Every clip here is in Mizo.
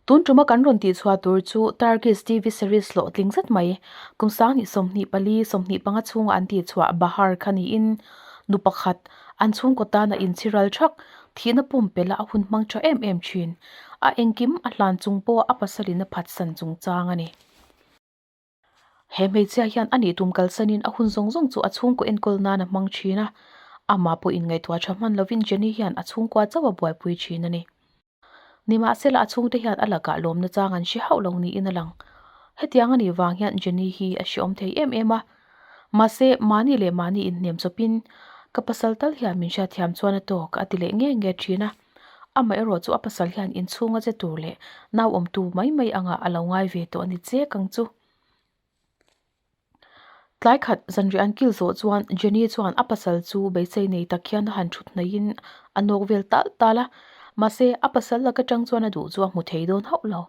Tun ṭuma kan rawn tih chhuah tur chu Turkish TV series hlawhtling zet mai, kum sangni sawmhnih pali sawmhnih panga chhunga an tih chhuah Bahar kha niin nu pakhat an chhungkaw tana inchhiral ṭhak, thihna pum pela a hun hmang tha em em thin. A engkim a hlan chung pawh a pasalin a phat san chung chang a ni. He hmeichhia hian a nih tum kalsanin a hun zawng zawng chu a chhungkaw enkawl nan a hmang thin a. Amah pawh inngaihtuah tha hman lovin Jenny hian a chhungkua chauh a buaipui thin a ni. Nimahsela a chhungte hian a lakah lawmna chang an hre hauh lo niin a lang. Hetiang a nih vang hian Jenny hi a hreawm thei em em a. Mahse, mahni leh mahni inhnem chawpin, Ka pasal tal hian min hriatthiam chuan a tawk, a ti leh nge nge thin a. Amaherawh chu a pasal hian inchhung a che tur leh nau awmtu mai mai angah a lo ngai ve tawh a ni che kang chu. Tlai khat zanriah an kil zawh chuan Jenny chuan a pasal chu beisei nei tak hian a han thut hnaihin a nawk vel tal tal a. Mahse, a pasal lak atang chuan a duh chu a hmu thei dawn hauh lo.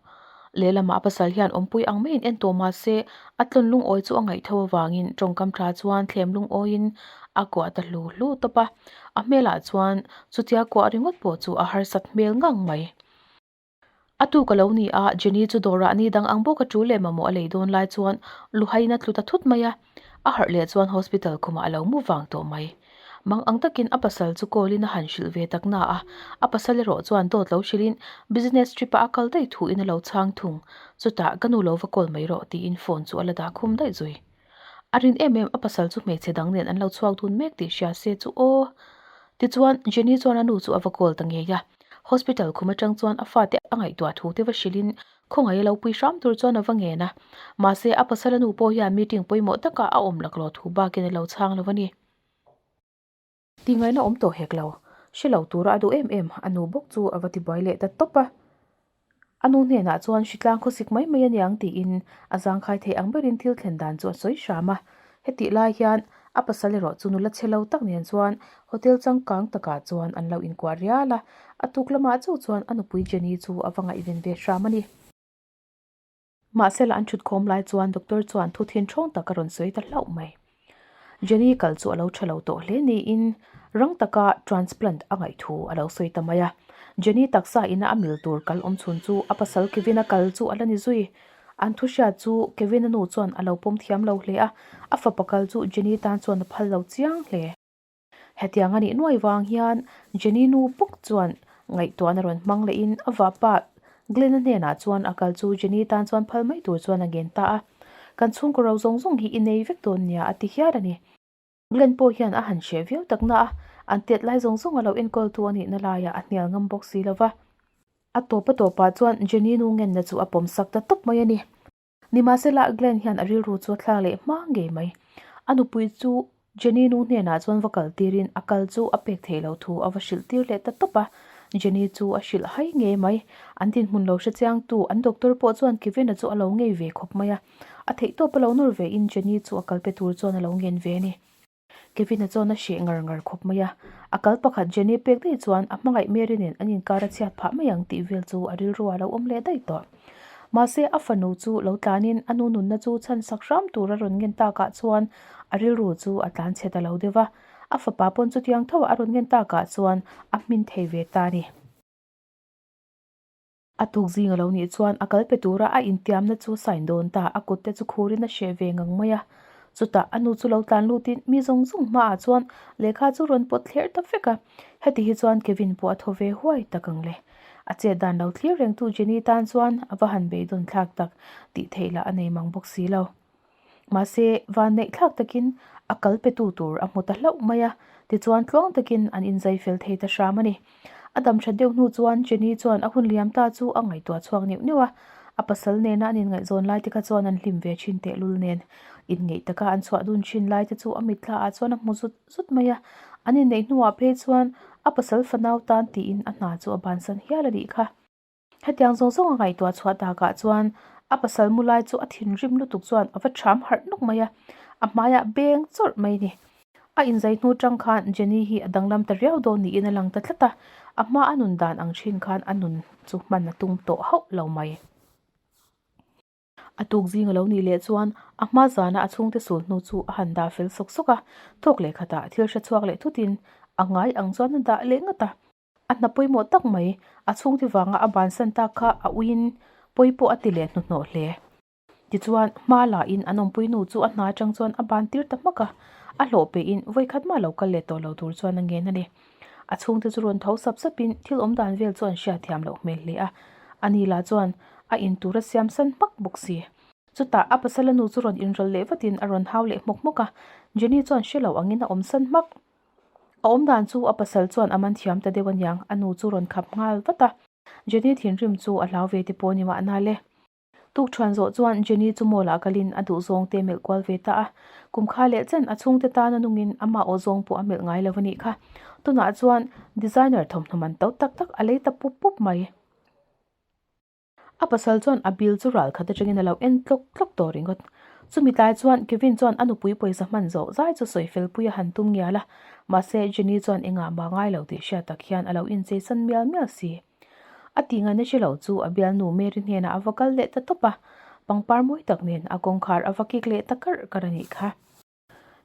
Lehlamah a pasal hian awmpui ang maiin en tawh mah se, a tlawn lungawi chu a ngaihtho avangin tawngkam tha chuan thlem lungawiin a kuah ta hlu hlu tawp a. A hmelah chuan chutia kuah ringawt pawh chu a harsat hmel ngang mai. A tu ka lo ni a, Jenny chu dawrah ni dang ang bawk a, ṭu leh mamawh a lei dawn lai chuan luhaina tlu ta thut mai a. A harh leh chuan hospital khumah a lo mu vang tawh mai. Mang ang takin a pasal chu call-in a han hrilh ve tak na a, a pasal erawh chuan dawt lo hrilhin business trip-a a kal daih thuin a lo chhang thung. Chutah, Ka nu lo va call mai rawh, tiin phone chu a la dah khum daih zui. A rin em em, a pasal chu hmeichhe dang nen an lo chhuak dun mek tih hria se chu aw. Tichuan, Jenny chuan a nu chu a va call ta ngei a, hospital khum atang chuan a fate a ngaihtuah thu te va hrilhin Khawngaih a lo pui hram tur chuan a va ngen a. Mahse, a pasal a nu pawh hian meeting pawimawh takah a awm lak lo thu bakin a lo chhang lo va ni. Tingaina awm tawh hek lo. Hre lo tura a duh em em, a nu bawk chu a va ti buai leh ta tawp a. A nu hnenah chuan hritlang khawsik mai mai a niang tiin a zangkhai theih ang berin thil thlen dan chu a sawi hram a. Hetih lai hian a pasal erawh chu nula che lo tak nen chuan hotel changkang takah chuan an lo inkuah rial a. A tuk lamah chauh chuan a nupui Jenny chu a va ngaihven ve hram a ni. Mahse lah an thut khawm lai chuan doctor chuan thu thin thawng tak a rawn sawi ta hlauh mai. Jenny kal chu a lo tha lo tawh hle niin rang taka transplant a ngaih thu a lo sawi ta mai a. Jenny taksa ina a mil tur kalawm chhun chu a pasal Kevin-a kal chu a la ni zui. An thu hriat chu Kevin-a nu chuan a lo pawm thiam lo hle a, a fapa kal chu Jenny tan chuan a phal lo chiang hle. Hetiang a nih nuai vang hian Jenny nu pawk chuan ngaihtuahna rawn hmang lehin a vapa Glenn-a hnenah chuan a kal chu Jenny tan chuan phal mai tur chuan a ngen ta a. Kan chhungkaw ro zawng zawng hi i nei vek dawn nia a ti hial a ni. Glenn pawh hian a han hria viau tak na a, an tiat lai zawng zawng a lo enkawltu a nihna laiah a hnial ngam bawk si lova. A tawpa tawpah chuan Jenny nu ngenna chu a pawm sak ta tawp mai a ni. Nimahse lah Glenn hian a rilru chu a thlak leh hma ngei mai. A nupui chu Jenny nu hnenah chuan va kal tirin a kal chu a pek thei lo thu a va hrilh tir leh ta tawp a. Jenny chu a hrilh hai ngei mai. An dinhmun lo hre chiangtu an doctor pawh chuan Kevin-a chu a lo ngei ve khawp mai a. A theihtawp a lo nawr ve in Jenny chu a kal pe tur chuan a lo ngen ve a ni. Kevin-a chuan a hreh ngar ngar khawp mai a. A kal pakhat Jenny pek daih chuan a hmangaih Mary nen an inkar a chhiat phah mai ang tih vel chu a rilru a lo awm leh daih tawh. Mahse a fanu chu lo tlan in a nu nunna chu chhan sak hram tur a rawn ngen tak ah chuan a rilru chu a tlan chhet a lo deuh a. A fapa pawn chutiang tho ah a rawn ngen tak ah chuan a hmin thei ve ta a ni. A tuk zing a lo nih chuan a kal pe tura a intiamna chu sign dawn ta, a kut te chu khurin a hreh ve ngang mai a. Chutah a nu chu lo tlan lutin mi zawng zawng hmaah chuan lehkha chu rawn pawt thler ta vek a. Heti hi chuan Kevin pawh a thaw ve huai tak ang le. A chet dan lo thlir rengtu Jenny tan chuan a va han beidawn thlak tak tih theih lah a nei mang bawk si lo. Mahse, van neihthlak takin a kal petu tur a hmu ta hlauh mai a, tichuan tluang takin an inzai fel thei ta hram a ni. A dam that deuh hnu chuan Jenny chuan a hun liam ta chu a ngaihtuah chhuak neuh neuh a, a pasal nena an inngaih zawn lai te kha chuan an hlim ve thin tehlul nen. Inngeih taka an chhuah dun thin lai te chu a mitthla ah chuan a hmu zut zut mai a, an inneih hnuah phei chuan a pasal fanau tan tiin a hna chu a bansan hial a nih kha. Hetiang zawng zawng a ngaihtuah chhuah takah chuan a pasal mu lai chu a thinrim lutuk chuan a va ṭham harh nawk mai a, a hmaia beng chawrh mai ni. A inzai hnu ṭang khan Jenny hi a danglam ta riau dawn niin a lang ta tlat a, a hma a nun dan ang ṭhin khan a nun chu hman a tum tawh hauh lo mai. A tuk zing a lo nih leh chuan a hma zana a chhungte sul hnu chu a han dah fel sawk sawk a, thawk leh khatah thil hre chhuak leh thutin a ngai ang chuan a dah leh ngat a. A hna pawimawh tak mai. A chhungte vanga a ban san tak kha a uiin pawi pawh a ti leh hnuhnawh hle. Tichuan, hma lahin an awmpui nu chu a hna atang chuan a ban tir ta hmak a. A hlawh pehin vawi khat mah lo kal leh tawh lo tur chuan a ngen a ni. A chhungte chu rawn tho sap sapin thil awm dan vel chu an hria thiam loh hmel hle a. A ni lah chuan a in tura siam san hmak bawk si. Chutah, a pasala nu chu rawn inrawlh leh vatin a rawn hau leh hmawk hmawk a. Jenny chuan hre lo angin a awm san hmak. A awm dan chu a pasal chuan a man thiam ta deuh a niang, a nu chu rawn khap nghal vat a. Jenny thinrim chu a hlau ve te pawh ni mah na le. Tukṭhuan zawh chuan Jenny chu mall ah kalin a duhzawng te melh kual ve ta a. Kum kha leh chen a chhungte tan a nungin amah aw zawng pawh a melh ngai lo a nih kha. Tunah chuan designer thawmhnaw man to tak tak a lei ta pup pup mai. A pasal chuan a bil chu ral khat atangin a lo en tlawk tlawk tawh ringawt. Chumi tlai chuan Kevin chuan a nupui pawisa hman zawh zai chu sawi felpuia han tum ngial a, mahse Jenny chuan engah mah ngai lo tih hriat tak hian a lo incheisan mial mial si. A tih ngaina hre lo chu a bialnu Mary hnenah a va kal leh ta tawp a, pangpar mawi tak nen a kawngkhar a va kik leh ta karh karh a nih kha.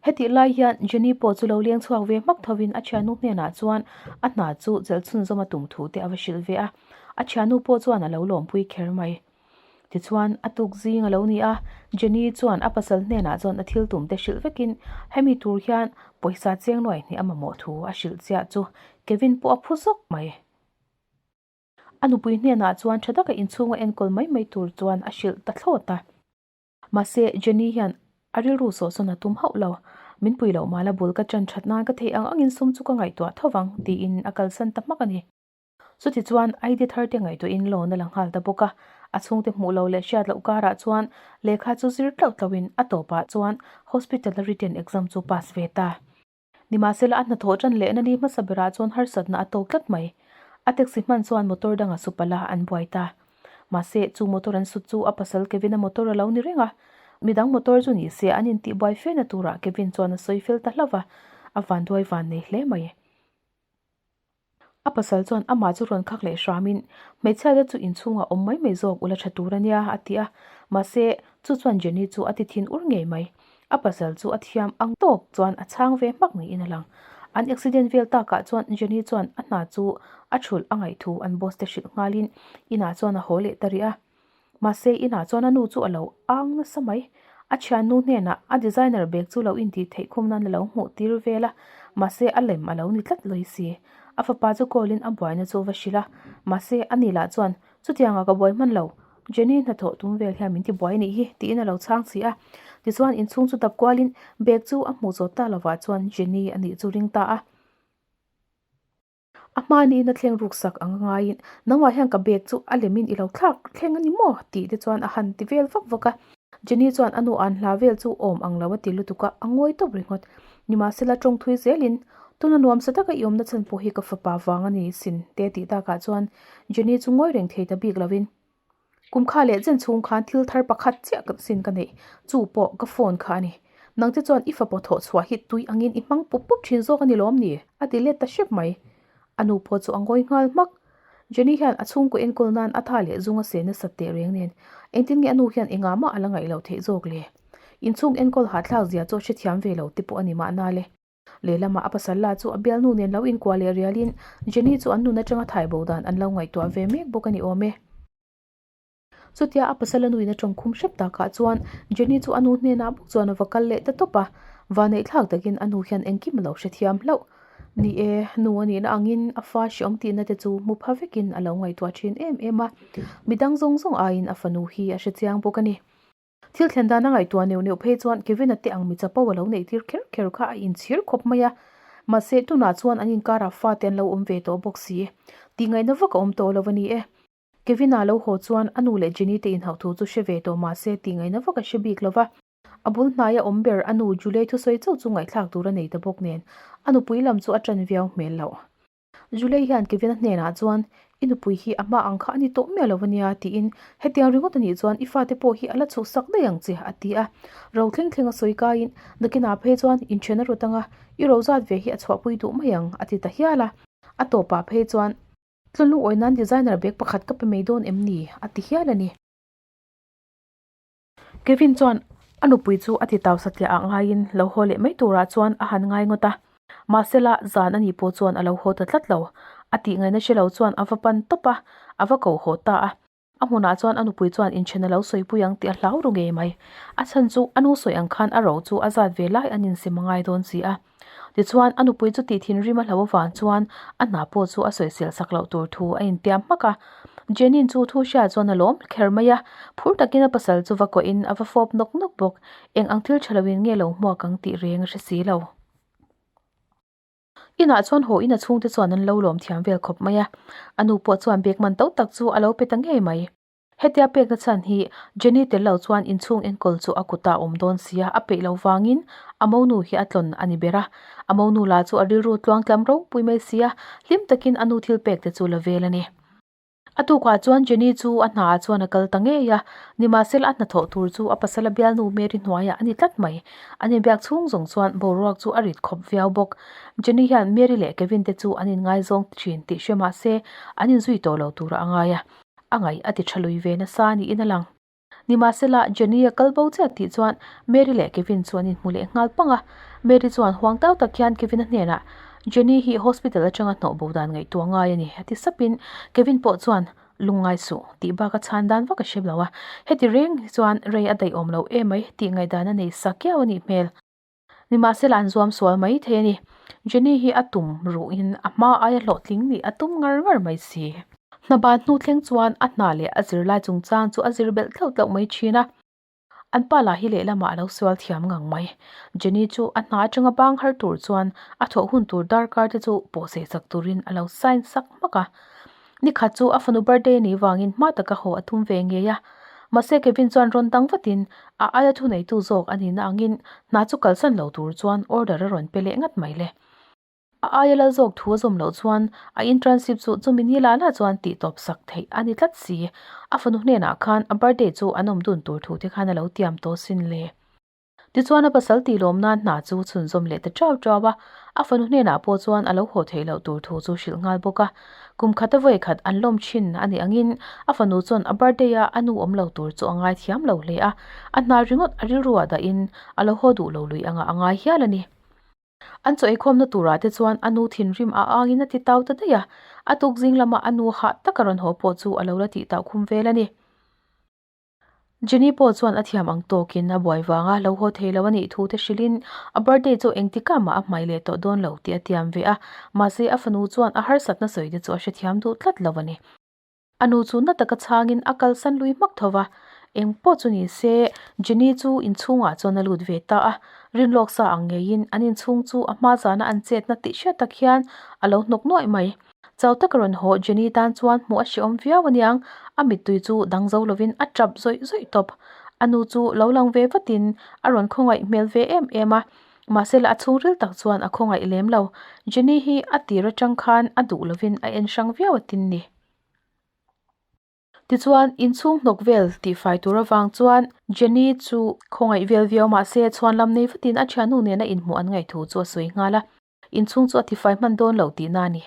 Hetih lai hian Jenny pawh chu lo lengchhuak ve hmak thovin a thiannu hnenah chuan a hna chu chelh chhunzawm a tum thu te a va hrilh ve a. A thiannu pawh chuan a lo lawmpui kher mai. Tichuan, a tuk zing a lo ni a. Jenny chuan a pasal hnenah chuan a thil tum te hrilh vekin, Hemi tur hian pawisa cheng nuai hnih a mamawh thu a hrilh chiah chu. Kevin pawh a phu zawk mai. A nupui hnenah chuan tha taka inchhung a enkawl mai mai tur chuan a hrilh ta thlawt a. Mahse, Jenny hian a rilru sawh sawn a tum hauh lo. Min pui loh mala bul ka ṭan ṭhat nan ka thei ang angin sum chu ka ngaihtuah tho vang, tiin a kalsan ta hmak a ni. Chutichuan ID thar te ngaihtuahin loan a la nghal ta bawk a, a chhungte hmuh lo leh hriat loh karah chuan lehkha chu zir tlauh tlauhin a tawpah chuan hospital-a written exam chu pass ve ta. Nimahsela a hnathawh tan leh nani hmasa berah chuan harsatna a to tlat mai. A taxi hman chuan motor danga su pala an buai ta. Mahse, chu motor an sut chu a pasal Kevina motor a lo ni reng a. Midang motor chu ni se an intihbuai fiahna turah Kevin chuan a sawi fel ta hlauh a, a vanduai van nei hle mai. A pasal chuan amah chu rawn khak leh hramin, Hmeichhia te chu inchhungah awm mai mai zawk ula tha tur a nia, a ti a. Mahse, chu chuan Jenny chu a ti thin ur ngei mai. A pasal chu a thiam ang tawk chuan a chhang ve hmak niin a lang. An accident vel takah chuan Jenny chuan a hna chu a chhulh a ngaih thu an boss te hrilh nghalin inah chuan a haw leh ta ri a. Mahse, inah chuan a nu chu a lo âng nasa mai. A thiannu hnenah a designer bag chu lo intih theih khum nan a lo hmuh tir vel a, mahse, a lem a lo ni tlat lawi si. A fapa chu kawlin a buaina chu a va hrilh a, mahse, a ni lah chuan, Chutianga ka buai hman lo, Jenny hna thawh tum vel hian min ti buai a nih hi, tiin a lo chhâng si a. Tichuan, inchhung chu dap kualin bag chu a hmuh zawt ta lovah chuan Jenny a nih chu ring ta a. A hma niin a thleng ruk sak anga ngaiin, Nangva hian ka bag chu a lemin i lo thlak thleng a ni maw? tih te chuan a han ti vel vak vak a. Jenny chuan a nu an hla vel chu awm ang lo a ti lutuk a, a ngawi tawp ringawt. Nimahsela tawng thui zelin, Tuna nuam sa taka i awmna chhan pawh hi ka fapa vang a ni sin, te tih dakah chuan Jenny chu ngawi reng thei ta bik lovin, Kum kha leh zen chhung khan thil thar pakhat chiah ka sin ka neih. Chu pawh ka phone kha a ni. Nangte chuan i fapa thawh chhuah hi tui angin i hmang pup pup thin zawk a ni lawm ni? A ti let ta hrep mai. A nu pawh chu a ngawi nghal hmak. Jenny hian a chhungkaw enkawl nan a tha leh zunga se nasat teh reng nen. Engtin nge a nu hian engah mah a la ngaih lo theih zawk le? Inchhung enkawl hahthlak zia chu a hrethiam ve lo te pawh a ni mahna le. Lehlamah a pasal la chu a bial hnu nen lo inkuah leh rialin Jenny chu an nun atanga thaibo dan an lo ngaihtuah ve mek bawk a ni awm e. Chutia a pasal a nuina tawng khum hrep takah chuan Jenny chu a nu hnenah bawk chuan a va kal leh ta tawp a, vanei thlak takin a nu hian engkim a lo hrethiam hlauh. Ni e, nu a nihna angin a fa hriawm tihna te chu mu pha vekin a lo ngaihtuah thin em em a. Midang zawng zawng aiin a fanu hi a hrechiang bawk a ni. Thil thlen dana ngaihtuah neuh neuh phei chuan Kevina te ang mi chapo a lo neih tir kher kher kha a inchhir khawp mai a. Mahse, tunah chuan an inkarah fate an lo awm ve tawh bawk si. Tihngaihna vak a awm tawh lo a ni e. Kevina lo haw chuan a nu leh Jenny te inhauh thu chu hre ve tawh mahse, tihngaihna vak a hre bik lo va. A bul hnaia awm ber a nu Julie thusawi chauh chu ngaihthlak tur a nei ta bawk nen, a nupui lam chu a ṭan viau hmel loh. Zulei hian Kevina hnenah chuan, I nupui hi a hma ang kha a ni tawh miah lo a nia, tiin, Hetiang ringawt a nih chuan i fate pawh hi a la chhuh sak daih ang che, a ti a. Ro thleng thleng a sawi kaiin, Nakina phei chuan inthian a rawt ang a, i ro zat ve hi a chhuahpui duh mai ang, a ti ta hial a. A tawpah phei chuan, Tlun lungawi nan designer bag pakhat ka pe mai dawn em ni? a ti hial a ni. Kevin chuan a nupui chu a ti tau satliahah ngaiin lo haw leh mai turah chuan a han ngai ngawt a. Mahsela zan a nih pawh chuan a lo haw ta tlat lo. A tih ngaina hre lo chuan a va pan tawp a, a va ko haw ta a. A hmunah chuan a nupui chuan in then a lo sawipui ang tih a hlau ru ngei mai. A chhan chu a nu sawi ang khan a ro chu a zat ve lai an insimangai dawn si a. Tichuan, a nupui chu tih thinrim a hlo avang chuan a hna pawh chu a sawisil sak loh tur thu a intiam hmak a. Jenny-in chu thu hriat chuan a lawm kher mai a, phur takin a pasal chu va kawhin a va fawp nawk nawk bawk. Eng ang thil tha loin nge lo hmuak ang tih reng a hre si lo. Inah chuan haw ina chhungte chuan an lo lawm thiam vel khawp mai a, a nu pawh chuan bag man to tak chu a lo pe ta ngei mai. Hetia pekna chhan hi Jenny tel lo chuan inchhung enkawl chu a kutah awm dawn sia, a peih lo vangin a monu hi a tlawn a ni ber a. A monu la chu a rilru tluang tlam ropui mai sia, hlim takin a nu thil pek te chu la vel a ni. A tukah chuan Jenny chu a hna ah chuan a kal ta ngei a, nimahsela a hna thawh tur chu a pasala bialnu Mary hnuaiah a ni tlat mai. A ni biak chhung zawng chuan boruak chu a rit khawp viau bawk. Jenny hian Mary leh Kevin te chu an inngaizawng thin tih hria mahse, an inzui tawh lo tur a ngai a. a ngaih a ti tha lui ve nasa niin a lang. Nimahsela, Jenny-a kal bo chiah tih chuan Mary leh Kevin chu an inhmu leh nghal pang a. Mary chuan huang tau tak hian Kevin-a hnenah, Jenny hi hospital atanga hnawhbo dan ngaihtuah ngai a ni, a ti sapin Kevin pawh chuan, Lungngai suh, tih bak a chhan dan vak a hre lo a. Heti reng hi chuan rei a daihawm lo emai tih ngaihdan a nei sa kiau a nih hmel. Nimahsela an zuam sual mai thei a ni. Jenny hi a tum ruhin a hma aia hlawhtling nih a tum ngar ngar mai si. Hna ban hnu thleng chuan a hna leh a zir lai chungchang chu a zir belh tlauh tlauh mai thin a. An pa lah hi lehlamah a lo sual thiam ngang mai. Jenny chu a hna atanga bang har tur chuan a thawh hun tur darkar te chu pawhseh sak turin a lo sign sak hmak a. ni khat chu a fanu birthday nih vangin hma taka haw a tum ve ngei a mahse Kevin chuan rawn dang vatin a aia thu nei tu zawk a nihna angin hna chu kalsan lo tur chuan order a rawn pe leh ngat mai le. A aia lal zawk thu a zawm loh chuan a internship chu chumi ni la la chuan tih tawp sak theih a ni tlat si. A fanu hnenah khan a birthday chu an awm dun tur thu te khan a lo tiam tawh sin le. Tichuan a pasal tih lawm nan hna chu chhun zawm leh ta teuh teuh a, a fanu hnenah pawh chuan a lo haw theih loh tur thu chu hrilh nghal bawk a. Kum khat a vawi khat an lawm thin a nih angin a fanu chuan a birthday a a nu awm lo tur chu a ngai thiam lo hle a. A hnal ringawt a rilruah dahin a lo haw duh lo luih angah a ngai hial a ni. An chaw eikhawmna turah te chuan a nu thinrim a angin a ti tau ta daih a. A tukzing lama a nu hah taka rawn haw pawh chu a lo la tih taukhum vel a ni. Jenny pawh chuan a thiam ang tawkin a buai vang a, Lo haw thei lo a nih thu te hrilh in, a birthday chu engtikah mah a hmai leh tawh dawn lo tih a tiam ve a, mahse a fanu chuan a harsatna sawi te chu a hrethiam duh tlat lo a ni. A nu chu na taka chhangin a kalsan lui hmak tho va, Eng pawh chu ni se, Jenny chu inchhungah chuan a lut ve ta a, rin lawk sa ang ngeiin an inchhung chu a hmazana an chetna tih hriat tak hian a lo hnawk nuaih mai. Chau taka rawn haw Jenny tan chuan hmuh a hreawm viau aniang, a mittui chu dang zo lovin a tap zawih zawih tawp. A nu chu lo lang ve vatin a rawn khawngaih hmel ve em em a, mahsela a chhungril tak chuan a khawngaih lem lo. Jenny hi a tir atang khan a duh lovin a en hrang viau a tin ni. Tichuan, inchhung hnawk vel tihfai tur avang chuan Jenny chu khawngaih vel viau mahse chhuanlam nei vatin a thiannu nena inhmuh an ngaih thu chu a sawi nghal a. Inchhung chu a tifai hman dawn lo tihna a ni.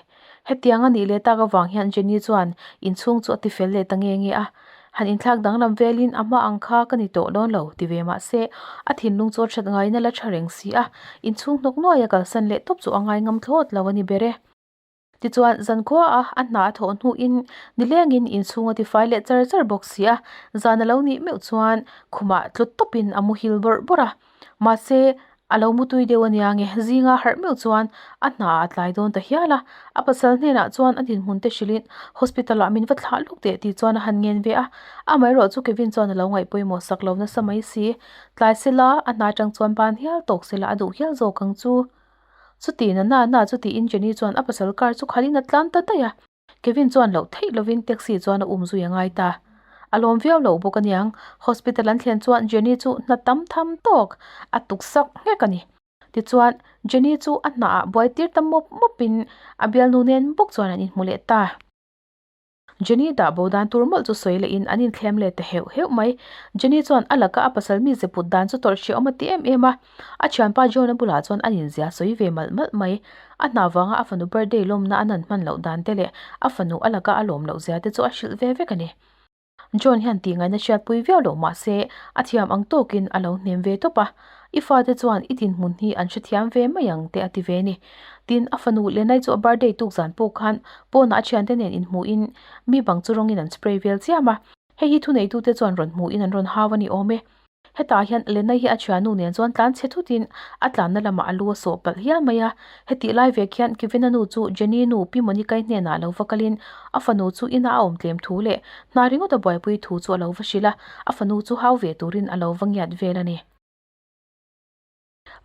Hetiang a nih leh tak avang hian Jenny chuan inchhung chu a ti fel leh ta nge nge a. Han inthlak danglam velin a hma ang kha ka ni tawh dawn lo ti ve mah se, a thinlung chu a that ngaina la tha reng si a. Inchhung hnawk nuaih a kalsan leh tawp chu a ngai ngam thlawt lo a ni ber e. Tichuan, zan khuaa a hna a thawh hnuin nilengin inchhung a tifai leh char char bawk si a, zan a lo nih meuh chuan khumah tlu tawpin a mu hil bawrh bawrh a. Mahse, a lo mu tui deuh a nia nge, zinga harh meuh chuan a hna a tlai dawn ta hial a. A pasal hnenah chuan a dinhmunte hrilhin, Hospital ah min va thlah luk teh tih chuan a han ngen ve a. Amaherawh chu Kevin chuan a lo ngaih pawimawh sak lo nasa mai si. Tlai sela, a hna atang chuan ban hial tawk sela a duh hial zawk ang chu. Chuti nana na chu tiin Jenny chuan a pasal car chu khalhin a tlan ta daih a. Kevin chuan loh theih lovin taxi chuan a um zui a ngai ta. A lawm viau lo bawk a niang. Hospital an thlen chuan Jenny chu hna tam tham tawk a tuksak nghek a ni. Tichuan, Jenny chu a hna ah buai tir ta mawp mawpin a bialnu nen bawk chuan an inhmu leh ta. Jenny dah bo dan tur mawlh chu sawi lehin an inthlem let ta heuh heuh mai. Jenny chuan a laka a pasal mi ze put dan chu tawrh ṭhi a awm a ti em em a. A thianpa John a bulah chuan an inzia sawi ve malh malh mai. A hna vanga a fanu birthday lawmna an han hman loh dan te leh a fanu a laka a lawm loh zia te chu a hrilh ve vek a ni. John hian tihngaihna hriatpui viau lo mahse a thiam ang tawkin a lo hnem ve tawp a. I fate chuan i dinhmun hi an hrethiam ve mai ang te a ti ve a ni. Tin, a fanu Lenai chu a birthday tuk zan pawh khan pawnah a thiante nen inhmuhin mi bang chu rawngin an spray vel chiam a. Hei hi thuneitute chuan rawn hmuhin an rawn hau a ni awm e. Hetah hian Lenai hi a thianu nen chuan tlan che thutin a tlanna lamah a lu a sawh palh hial mai a. Hetih lai vek hian Kevina nu chu Jenny nu Pi Monikai hnenah lo va kalin a fanu chu inah a awm tlem thu leh hna ringawt a buaipui thu chu a lo va hrilh a, a fanu chu hau ve turin a lo va ngiat vel a ni.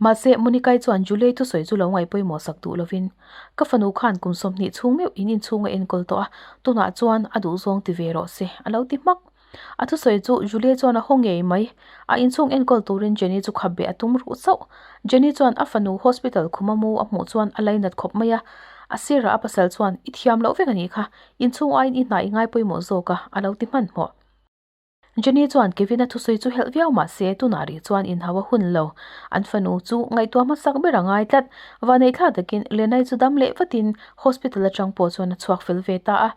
Mahse, Monikai chuan July thusawi chu lo ngaipawimawh sak duh lovin, Ka fanu khan kum sawmhnih chhung meuh in inchhung a enkawl tawh a, tunah chuan a duhzawng ti ve rawh se, a lo ti hmak. A thusawi chu Julie chuan a haw ngei mai. A inchhung enkawl turin Jenny chu kha beh a tum ruh chauh. Jenny chuan a fanu hospital khuma mu a hmuh chuan a lainat khawp mai a. A sirah a pasal chuan, I thiam loh vek a nih kha. Inchhung aiin i hna i ngai pawih maw zawk a, a lo ti hman hmawh. Jenny chuan Kevin-a thusawi chu helh viau mah se, tunah rih chuan inhau a hun lo. An fanu chu ngaihtuah hmasak ber a ngai tlat. Vaneihthla takin Lenai chu dam leh vatin hospital atang pawh chuan a chhuak fel ve ta a.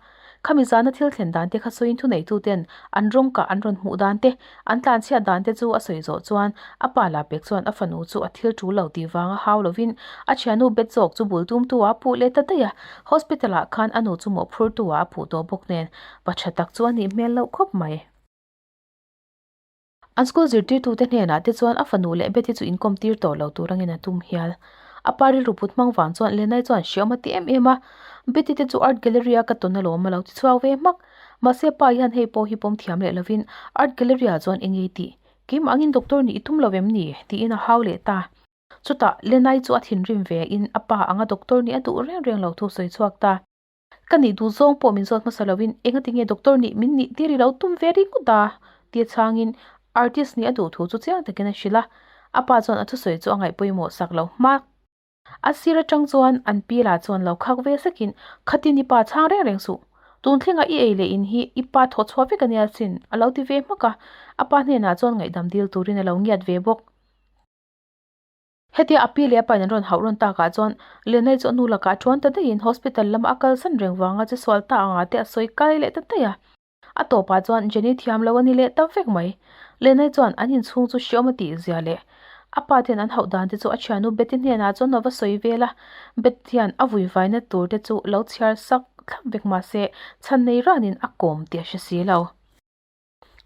Khami zana thil thlen dan te kha sawiin thuneituten an rawng kah an rawn hmuh dan te, an tlan chhiat dan te chu a sawi zawh chuan a pa la pek chuan a fanu chu a thil ṭul lo tih vang a hau lovin a ṭhiannu bet zawk chu bul tum tu ah a puh leh ta daih a. Hospital ah khan a nu chu mawhphur tu ah a puh tawh bawk nen pa ṭha tak chu a nih hmel loh khawp mai. An school zirtirtute hnenah te chuan a fanu leh Betty chu inkawm tir tawh lo tur angin a tum hial. A pa rilru put hmang vang chuan Lenai chuan hre awm a ti em em a. Betty te chu Art Gallery a ka tawn a lawm a lo ti chhuak ve hmak. Mahse pa hian hei pawh hi pawm thiam leh lovin Art Gallery ah chuan engei tih? Keim angin doctor nih i tum lo em ni? tiin a hau leh ta. Chutah Lenai chu a thinrim ve in a pa anga doctor nih a duh reng reng lo thu sawi chhuak ta. Ka nih duh zawng pawh min zawt hmasa loin engati nge doctor nih min nih tir i lo tum ve ringawt a? tia changin artist nih a duh thu chu chiang takin a hrilh a. A pa chuan a thusawi chu a ngaih pawimawh sak lo hmak. A sir atang chuan an pi la chuan lo khak ve sekin, Khatin i pa chhang reng reng suh. Tun thlengah i ei leh in hi i pa thawh chhuah vek a nia sin, a lo ti ve hmak a. A pa hnenah chuan ngaihdam dil turin a lo ngiat ve bawk. Hetia a pi leh a pain an rawn hauh rawn tak ah chuan Lenai chu a nu lakah ṭuan ta daihin hospital lama a kal san reng vanga chu sual ta anga te a sawi kai leh ta daih a. A tawpah chuan Jenny thiam lo a ni leh ta vek mai. Lenai chuan an inchhung chu hriawm a tih zia leh a pa te hian an hauh dan te chu a ṭhiannu Betty hnenah chuan a va sawi vel a. Betty hian a vui vaina tur te chu a lo chhiar sak thlap vek mahse chhan nei ranin a kawm tih a hre si lo.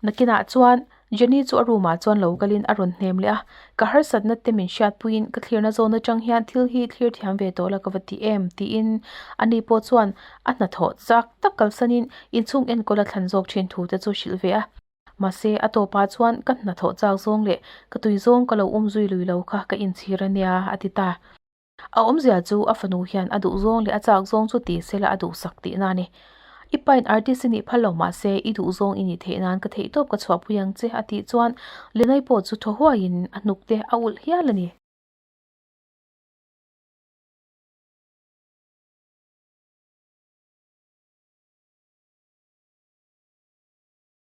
Nakinah chuan Jenny chu a roomah chuan lo kalin a rawn hnem leh a, ka harsatna te min hriatpuiin ka thlirna zawn atang hian thil hi thlir thiam ve tawh la ka va ti em tiin ani pawh chuan a hnathawh zak tak kalsanin inchhung enkawla thlan zawk thin thu te chu hrilh ve a. Mahse a tawpah chuan ka hnathawh chak zawng leh ka tui zawng ka lo awm zui lui lo kha ka inchhir a nia a ti ta. A awmzia chu a fanu hian a duhzawng leh a chak zawng chu ti sela a duhsak tihna a ni. I pain artist i nih phal lo mahse i duhzawng i nih theih nan ka theih tawp ka chhuahpui ang che a tih chuan Lenai pawh chu thaw huaiin a hnuk te a ulh hial a ni.